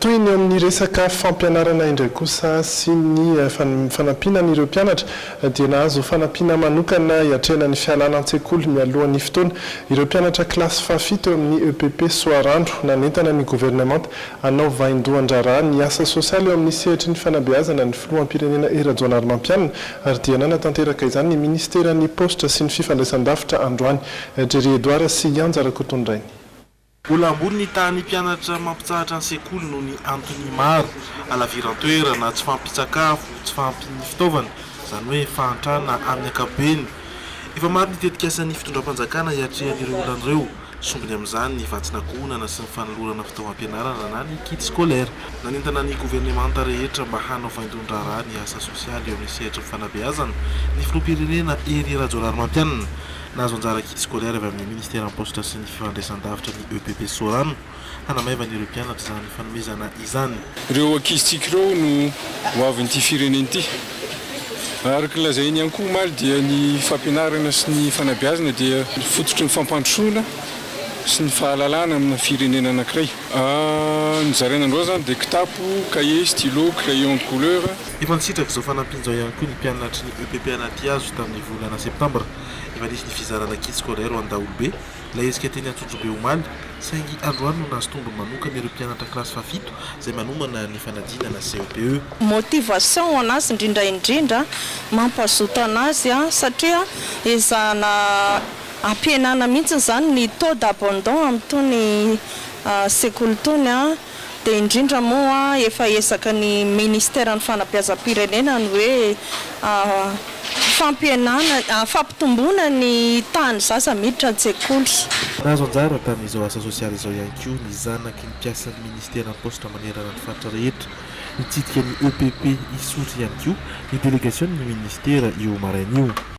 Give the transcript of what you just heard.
Toy ny eo amin'ny resaka fampianarana indray kosa sy ny fanampiana an'ireo mpianatra dia nahazo fanampiana manokana hiatrehana ny fialana an-tsekoly mialohan'ny fotoana ireo mpianatra kilasy fahafito eo amin'ny epp Soarandro. Nanentana ny governemanta hanao vaindohan-draharaha ny asa sosialy eo amin'ny sehatry ny fanabeazana ny filoham-pirenena Hery Rajaonarimampianina ary dia nanatanteraka izany ny minisiteran'ny paositra sy ny fifandraisandavitra androany. Jerry Edouard sy Ianja Rakotondrainy. Mbola ambony ny tahan'ny mpianatra mampitsahatra ny sekoly noho ny antony maro, halaviran-toerana, tsy fahampian-tsakafo, tsy fahampian'ny fitaovana, izany hoe fahantrana amin'ny ankapobeny. Efa maro ny tetikasan'ny fitondram-panjakana hiatrehan'ireo olana ireo. Sombiny amin'izany ny vatsin'ankohonana sy ny fanolorana fitaovam-pianarana na ny kit scolaire. Nanentana ny governemanta rehetra mba hanao fahaindon-draharaha ny asa sosialy eo amin'ny sehatry ny fanabeazana ny filoham-pirenena Hery Rajaonarimampianina. Nahazo anjara kit scolaire avy amin'ny Ministeran'ny Paositra sy ny Fifandraisandavitra ny EPP Sorano hanamaivana ireo mpianatra izany fanomezana izany. Ireo ankizintsika ireo no hoavin'ity firenena ity. Araka ny lazainy ihany koa omaly dia ny fampianarana sy ny fanabeazana dia fototry ny fampandrosoana sy ny fahalalana amina firenena anankiray. Ny zaraina androany izany dia kitapo, cahier, stylo, crayon de couleur. Efa nisitraka izao fanampiana izao ihany koa ny mpianatry ny EPP Anatihazo tamin'ny volana septambra. Efa nisy ny fizarana kits scolaires ho an'ny daholobe ilay hetsika teny Antsonjombe omaly, saingy androany no nahazo tombony manokana ireo mpianatra kilasy fahafito izay manomana ny fanadinana CEPE. Motivation ho an'azy indrindra indrindra, mampazoto an'azy satria ezahana ampihenana mihitsy izany ny taux d'abandon amin'itony sekoly itony. dia indrindra moa efa ezaka ny Ministeran'ny Fanabeazam-pirenena ny hoe fampihenana, fampitomboana ny tahan'ny zaza miditra an-tsekoly. Nahazo anjara tamin'izao asa sosialy izao ihany koa ny zanaky ny mpiasan'ny Ministeran'ny Paositra manerana ny faritra rehetra mitsidika ny EPP Isotry ihany koa ny delegasionin'ny Ministera io maraina io.